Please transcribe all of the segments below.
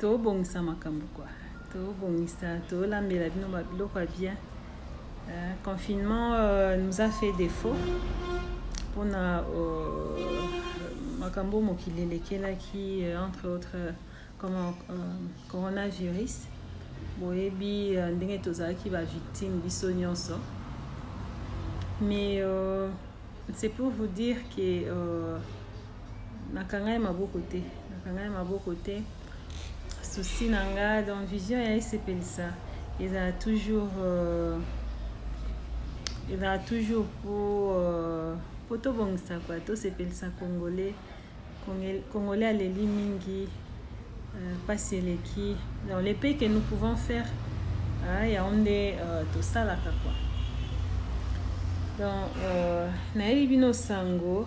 tobongisa makambo kua tobongisa tolambela bino babiloko ya bien euh, confinement euh, nous a fait défaut mpona euh, makambo mokili elekelaki euh, entre autres euh, comment euh, coronavirus boyebi euh, ndenge tozalaki bavictime biso nyonso mais euh, c'est pour vous dire que euh, nakangai maboko te nakangai maboko te souci na nga donc vision ya esepelisa ezala toujours euh, ezala toujours po euh, po tobongisa kua tosepelisa congolais congolais aleli mingi mpasi euh, eleki donc le pays que nous pouvons faire euh, yango nde euh, tosalaka kua donc euh, nayebi bino sango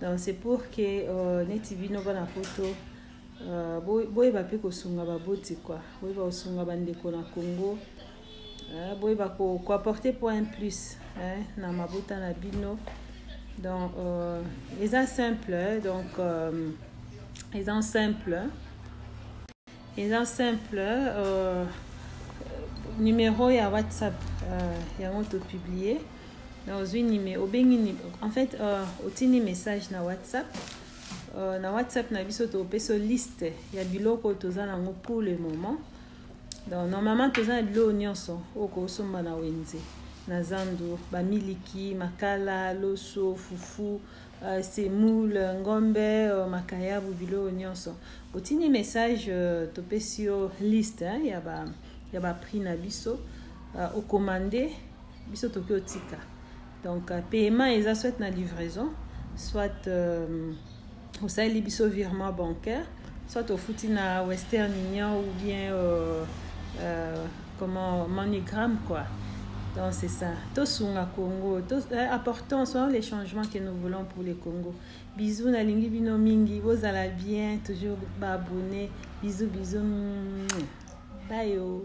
donc c'est pour que euh, neti bino bana poto euh, boyeba mpe kosunga baboti kua boyeba kosunga bandeko na congo euh, boyeba koapporte point plus eh, na mabota na bino donc euh, eza simple donc euh, eza simple eza simple euh, numero ya whatsapp euh, yango topublie na ozwi nime obengi en fait euh, otindi message na whatsapp euh, na whatsapp na biso topesa liste ya biloko toza nango pour le moment donc normalement toza na biloko nyonso oyo kosomba na wenze na zando bamiliki makala loso fufu Euh, semoule ngombe euh, makayabu biloko nyonso otindi message euh, topesi yo liste ya ba ya ba prix na biso okomande biso toki otika donc paiement eza soit na livraison soit osaleli biso virement bancaire soit ofuti na western union ou bien euh, euh, comment manigram quoi donc c'est ça tosunga congo to, euh, apportons soyons les changements que nous voulons pour le congo bisous nalingi bino mingi bozala bien toujours baabonne bisous bisous bye oh.